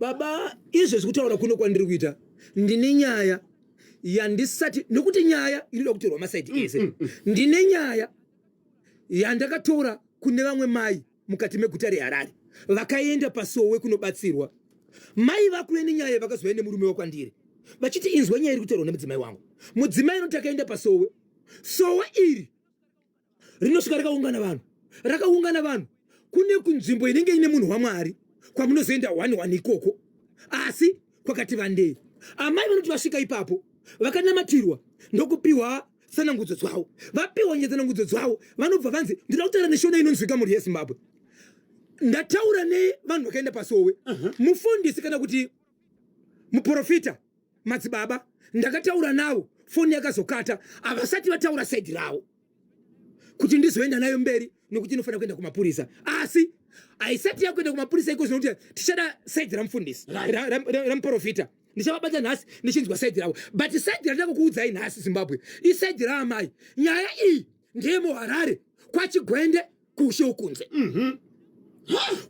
Baba izvezvi kutaura kuno kwandiri kuita ndine nyaya yandisati nokuti nyaya inoda kutorwa masaidi mm, ese mm, mm. ndine nyaya yandakatora kune vamwe mai mukati meguta reharare vakaenda pasowe kunobatsirwa mai vakuve nenyaya vakazouya nemurume wakwandiri vachiti inzwa nyaya iri kutorwa nemudzimai wangu mudzimai inoti akaenda pasowe sowe iri rinosvika rakaungana vanhu rakaungana vanhu kune kunzvimbo inenge ine munhu wamwari kwamunozoenda wani wani ikoko asi kwakati vandei amai vanoti vasvika ipapo vakanamatirwa ndokupiwa tsanangudzo dzavo vapiwa nye tsanangudzo dzavo vanobva vanzi ndinoda kutaura neshona inonzwika mhuri yezimbabwe ndataura nevanhu vakaenda pasowe mufundisi kana kuti muporofita madzibaba ndakataura navo foni yakazokata havasati vataura saidi ravo kuti ndizoenda nayo mberi nokuti inofanira kuenda kumapurisa asi haisati yakuenda kumapurisa iko zvinokuti tichada saidi ramufundisi ramuporofita ndichavabata nhasi ndichinzwa saidi ravo but saidi randaka kuudzai nhasi zimbabwe isaidi raamai nyaya iyi ndeyemuharare kwachigwende kuushe ukunze mm -hmm.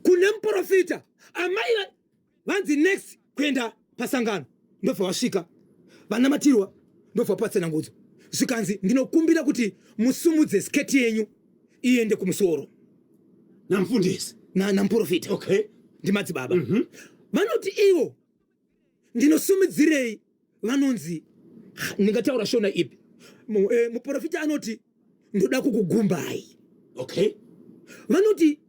kune muporofita amai vanzi next kuenda pasangano ndobva vasvika vanamatirwa ndobva patsenangudzo zvikanzi ndinokumbira kuti musumudze sketi yenyu iende kumusoro namfundisi namuprofita okay. ndimadzibaba mm -hmm. vanoti ivo ndinosumudzirei vanonzi ndingataura shona ipi eh, muprofita anoti ndoda kukugumbai okay vanoti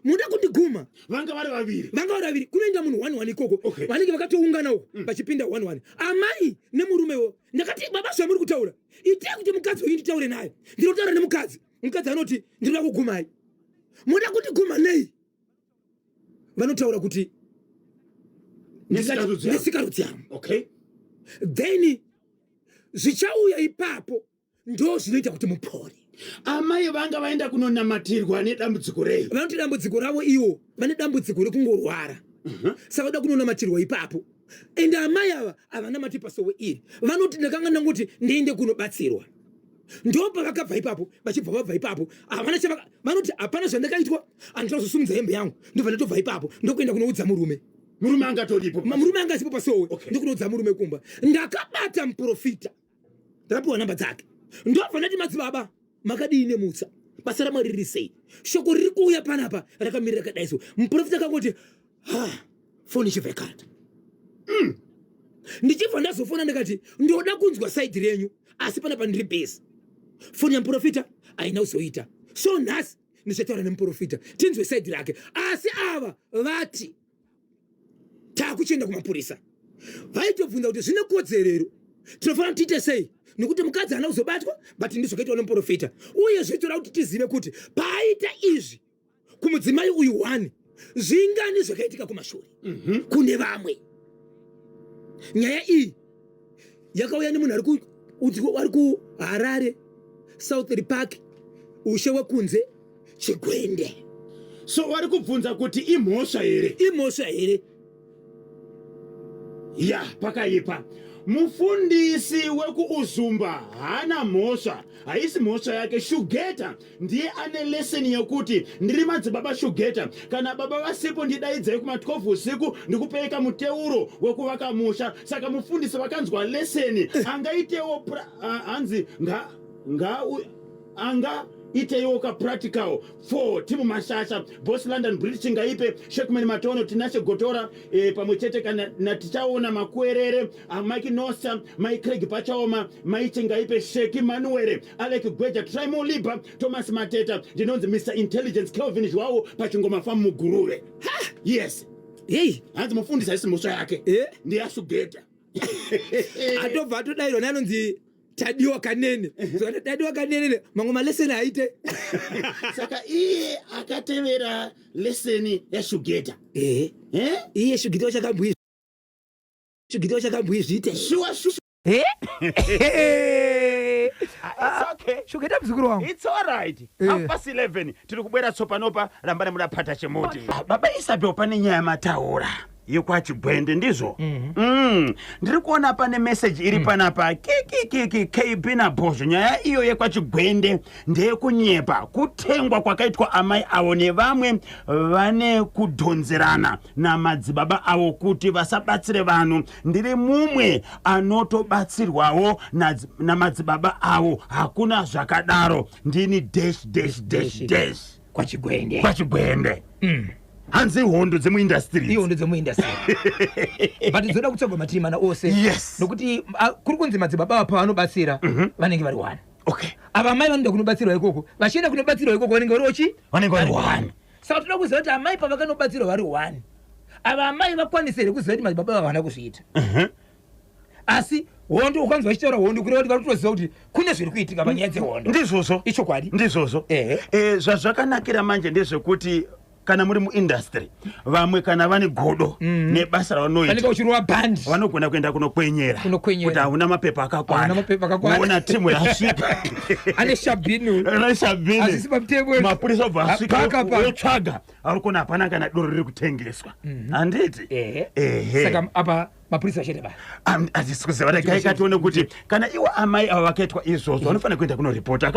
muda kundiguma vanga vari vaviri vanga vari vaviri kunoenda munhu one one ikoko okay. vanenge vakatoungana uko mm. vachipinda one one amai nemurumewo ndakati baba zvamuri kutaura itai kuti mukadzi wenyu nditaure naye ndinotaura nemukadzi mukadzi anoti ndinoda kugumai muda kundiguma nei vanotaura kuti nesikarudziamo okay then zvichauya ipapo ndo zvinoita kuti mupore amai vanga vaenda kunonamatirwa nedambudziko rei vanoti dambudziko ravo iwo vane dambudziko rekungorwara mhm. sa vada kunonamatirwa ipapo ende amai ava havanamati pasowe iri vanoti ndakanga ndangoti ndiende kunobatsirwa ndobva vakabva ipapo vachibva vabva ipapo havana chavaka vanoti hapana zvandakaitwa andida kuzosumudza hembe yangu ndobva ndatobva ipapo ndokuenda kunoudza murume murume anga toripo murume anga asipo pasowe okay. ndikunoudza murume kumba ndakabata muprofita ndakapiwa namba dzake ndobva ndati madzibaba makadii nemutsa basa ramwari riri sei shoko riri kuuya panapa rakamirira kadaiso muprofita akangoti ha ah. foni ichibva ikata mm. ndichibva ndazofona ndikati ndoda kunzwa saidi renyu asi pana pandiri bhesi foni yamuprofita haina kuzoita so nhasi ndichataura nemuprofita tinzwe saidi rake asi ava vati taakuchienda kumapurisa vaitobvunza kuti zvine kodzerero tinofanira kuti tiite sei nekuti mukadzi haana kuzobatwa but ndizvo kaitwa nemuprofita uye zvoitora kuti tizive kuti paaita izvi kumudzimai uyu wani zvingani zvakaitika kumashure mm -hmm. kune vamwe nyaya iyi yakauya nemunhu ari ari kuharare southry park ushe wekunze chigwende so wari kubvunza kuti imhosva here imhosva here ya pakaipa mufundisi wekuuzumba haana mhosva haisi mhosva yake shugeta ndiye ane leseni yekuti ndiri madzibaba shugeta kana baba vasipo ndidaidzai kuma 12 usiku ndikupeeka muteuro wekuvaka musha saka mufundisi vakanzwa leseni angaitewo hanzi nga, nga anga iteiwo ka practical for timu mashasha boss london british ngaipe shekman matono tinashe gotora e, pamwe chete kana natichaona makuerere amike nosa mai craig pachaoma mai chingaipe sheki manuwere alec gweja trimo liba thomas mateta ndinonzi mr intelligence kelvin zhwawo pachingoma famu muguruve yes hei hanzi mufundisi haisi mhosva yake eh? ndeyasugeta atobva atodairwa neanonzi tadiwa kanene so tadiwa kanene mamwe maleseni aite saka iye akatevera leseni yashugeta ehe eh? iye shugita wachakambuyi shugita wachakambuyi zviite shuwa shuwa Eh? Ah, okay. shugeta muzukuru wangu It's all right. Eh. Half past 11 tiri kubwera tsopanopa rambane muda phata chemuti. Baba Isabel pane nyaya mataura. yekwachigwende ndizvo mm -hmm. mm, ndiri kuona pane meseji iri mm. panapa kikikiki kb nabhozho nyaya iyo yekwachigwende ndeyekunyepa kutengwa kwakaitwa amai avo nevamwe vane kudhonzerana namadzibaba avo kuti vasabatsire vanhu ndiri mumwe anotobatsirwawo namadzibaba avo hakuna zvakadaro ndini dash dash dash dash, dash. kwachigwende kwachigwende mm. hanzi ihondo dzemuindastiri ihondo dzemuindastiri but dzoda kutsvagwa matiri mana ose yes nokuti ah, kuri kunzi madzibaba apa vanobatsira mm -hmm. vanenge vari wani okay ava mai vanoda kunobatsirwa ikoko vachienda kunobatsirwa ikoko vanenge vari ochi vanenge vari wani saka toda kuziva kuti amai pavakanobatsirwa vari wani ava amai vakwanise here kuziva kuti madzibaba ava havana kuzviita mm -hmm. asi hondo ukanzwa ichitaura hondo kureva kuti vari kutoziva kuti kune zviri kuitika panyaya dzehondo ndizvozvo ichokwadi ndizvozvo eh, zvazvakanakira manje ndezvekuti kana muri muindustry vamwe kana vane godo mm. nebasa ravanoita uchirova band vanogona kuenda kunokwenyera kuti hauna mapepa akakwanaaona timu yasvika ane shabinu ane shabinu mapurisa obva asvikaotsvaga ari kuona hapana kana doro riri kutengeswa mhm. handiti ehe saka apa mapurisa chete ba hazvisi kuziva regai katione kuti kana iwo amai ava vakaitwa izvozvo vanofanira kuenda kunoripota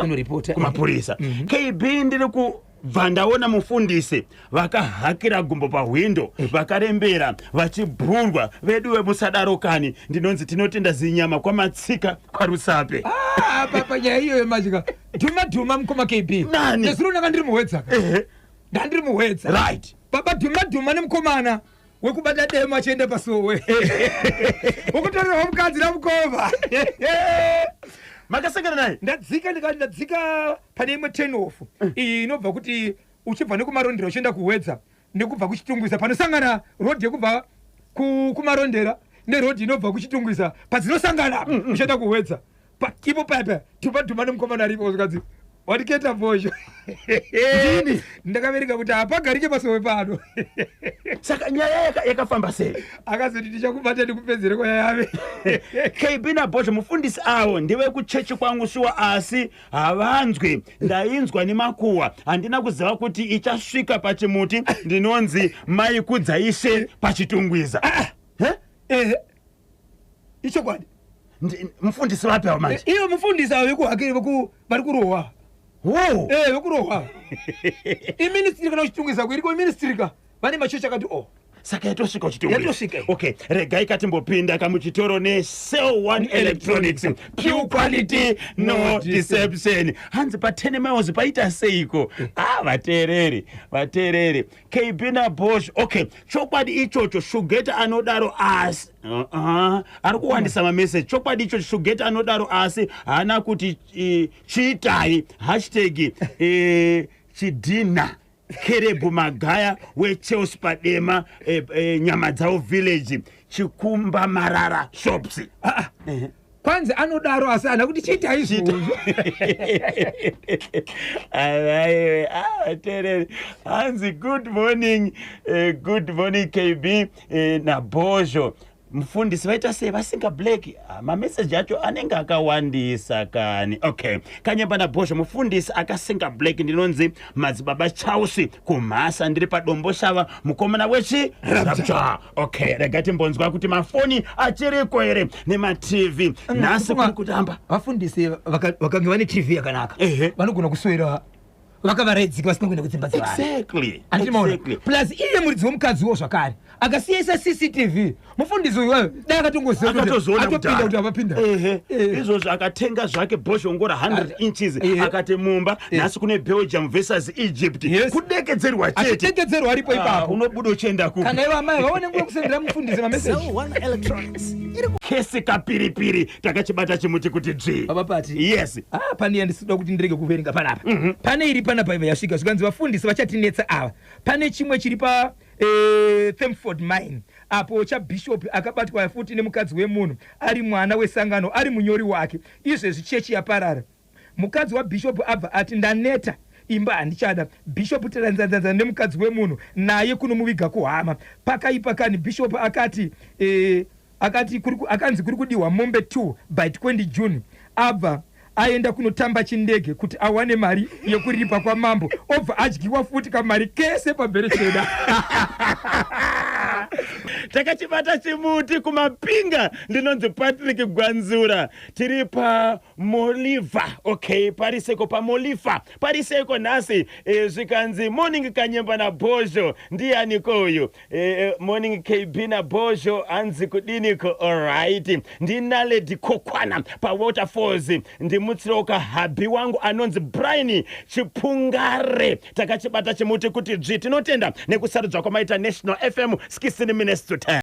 kumapurisa mhm. kb ndiri ku bva ndaona mufundisi vakahakira gumbo pahwindo eh. vakarembera vachibhurwa vedu vemusadaro kani ndinonzi tinotenda zinyama kwamatsika kwarusape ah, papa nyaya iyoyo matika dhuma dhuma mukoma kb nani nezuro ndanga ndiri muhwedza ndandiri muhwedza right baba dhuma dhuma nemukomana wekubata demo achienda pasowe ukutorerwa mukadzi namukova makasangana naye ndadzika ndikati ndadzika pane imwe tenof eh. iyi inobva kuti uchibva nekumarondera uchienda kuhwedza nekubva kuchitungwiza panosangana rodhi yekubva kumarondera nerodhi inobva kuchitungwiza padzinosangana mm, mm. uchienda kuhwedza Pa, ipo paya paya tupa dhuma nemukomana aripo zvikanzi watiketa vozho Ndini? ndakaverenga kuti hapagarike pasowe pano saka nyaya yaka- yakafamba sei akazoti tichakubata ndikupedzere kwayave kb nabhozho mufundisi avo ndevekuchechi kwangu shuwa asi havanzwi ndainzwa nemakuhwa handina kuziva kuti ichasvika pachimuti ndinonzi maikudza ishe pachitungwiza Eh? Ehe. ichokwadi mufundisi vapi avo manje iyo mufundisi avo vekuhakiri vari kurohwa ee vekurohwa iministiri kana uchitungisa kuiriko iministiri ka vane machechi akati o oh. saka yatosvika uchitiyatosvika okay regai katimbopinda kamuchitoro necell one electronics pure quality no deception hanzi pa ten miles paita seiko a ah, vateereri vateereri kb nabosh okay chokwadi ichocho shugeta anodaro asi uh-uh. ari kuwandisa mameseji chokwadi ichocho shugeta anodaro asi haana kuti eh, chiitai hashtag eh, chidhinha kerebu magaya wechels padema eh, eh, nyama dzavo village chikumba marara shops Ah, ah. kwanzi anodaro asi ana kuti chiti aizvozvo avaiwe avatereri ah, hanzi good morning uh, good morning kb uh, eh, nabhozho mufundisi vaita sei vasinga black ah, mameseji acho anenge akawandisa kani okay kanyemba nabhozho mufundisi akasinga black ndinonzi madzibaba chausi kumhasa ndiri padombo shava mukomana wechi rapture okay rega timbonzwa kuti mafoni achiriko here nematv mm, nhasi kuri kutamba vafundisi vakange vane tv yakanaka vanogona kuswera vakavaraidzika vasina kuenda kudzimba dzevanhuplus iye muridzi wemukadzi wo zvakare akasiyaisa cctv mufundisi uyu wayo dai akatongozivaatopinda kuti avapinda izvozvo akatenga zvake bhoshongora 100 inches akati mumba Eh. nhasi kune belgium versus egypt yes. kudekedzerwa cheteachidekedzerwa aripo ah, ipapo unobuda uchienda ku kana ivo amai vaone nguva kusendera mufundisi mameseji kese kapiripiri takachibata chimuti kuti dzvi baba pati yes ah, pane yandisida kuti ndirege kuverenga panapa mm -hmm. pane iri panapa iva yasvika zvikanzi vafundisi vachatinetsa ava pane chimwe chiri pa eh, themford mine apo chabhishopi akabatwa futi nemukadzi wemunhu ari mwana wesangano ari munyori wake izvezvi chechi yaparara Mukadzi waBishop abva ati ndaneta imba handichada. Bishop tdanzanzanza nemukadzi wemunhu naye kunomuviga kuhama. Pakaipa kani Bishop akati eh, akati kuri ku- akanzi kuri kudihwa mombe 2 by 20 June abva aenda kunotamba chindege kuti awane mari yekuripa kwamambo obva adyiwa futi kamari kese pamberi cheda takachibata chimuti kumapinga ndinonzi patrick gwanzura tiri pa Moliva okay pariseko pamolifa pariseko nhasi e, zvikanzi morning kanyemba nabhozho ndiyaniko uyu e, e, morning kb nabhozho hanzi kudiniko alright ndinaledi kokwana pawaterfalls ndimutsirewo kahabhi wangu anonzi brian chipungare takachibata chimuti kuti dzvi tinotenda nekusarudzwa kwamaita national fm 16 minutes to 10